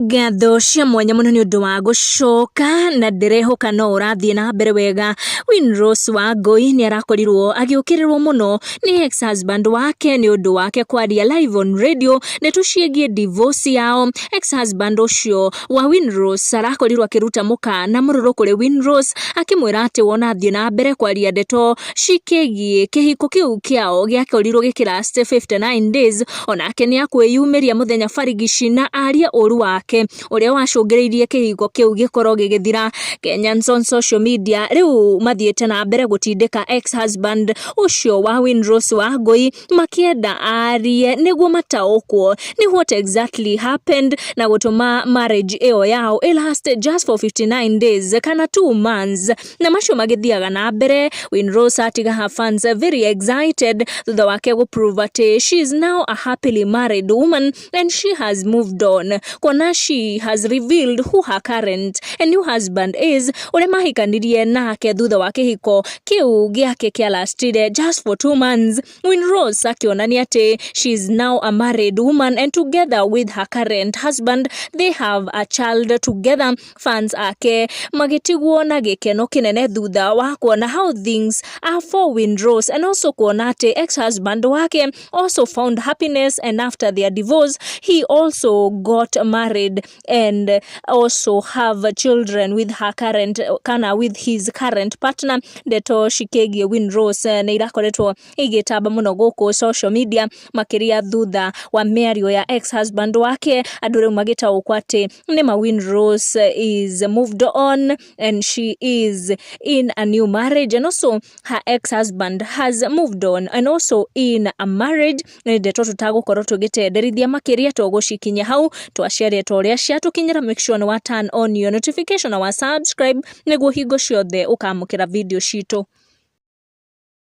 Ngatho cia mwanya mũno nĩ ũndũ wa gũcoka na ndĩrehoka no ũrathiĩ na mbere wega. Winrose Wangũi nĩ arakorirwo agĩũkĩrĩrwo mũno nĩ ex husband wake nĩ ũndũ wake kwaria live on radio ndeto ciĩgiĩ divorce yao. Ex husband ũcio wa Winrose arakorirwo akĩruta mũkana mũrũrũ kũrĩ Winrose akĩmwĩra atĩ wona athiĩ na mbere kwaria ndeto cikĩgiĩ kĩhiko kĩu kĩao gĩakorirwo gĩkĩ last 59 days onake nĩakwĩyumĩria mũthenya barigici na arie ũru wake ũrĩa wacũngĩrĩirie kĩhiko kĩu gĩkorwo gĩgĩthira. Kenyans on social media rĩu mathiĩte na mbere gũtindĩka ex husband ũcio wa Winrose Wangũi makĩenda arie nĩguo mataũkwo nĩ what exactly happened na gũtũma marriage ĩyo yao ĩ last just for 59 days kana two months. na macio magĩthiaga na mbere Win Rose atiga her fans very excited thutha wake gũ prove atĩ she is now a happily married woman and she has moved on kuona she has revealed who her current and new husband is ũrĩa mahikanirie nake thutha wa kĩhiko kĩu gĩake kĩa lastire just for two months Win Rose akĩonania atĩ she is now a married woman and together with her current husband they have a child together fans ake magĩtigwo na gĩkeno kĩnene thutha wa kuona how things are for Windrose and also kuona atĩ ex-husband wake also found happiness and after their divorce he also got married and also have children with her current kana with his current partner ndeto cikĩgiĩ Windrose nĩ irakoretwo ĩgĩtamba mũno gũkũ social media makĩria thutha wa mĩario ya ex husband wake andũ rĩu magĩtaũkwo atĩ nĩma Winrose is moved on and she is in a new marriage and also her ex husband has moved on and also in a marriage nĩ ndeto tũtagũkorwo tũgĩtenderithia makĩria tũgũcikinya hau twaciaria ta ũrĩa ciatũkinyĩra make sure nĩ wa turn on your notification na wa subscribe nĩguo hingo ciothe ũkamũkĩra video citũ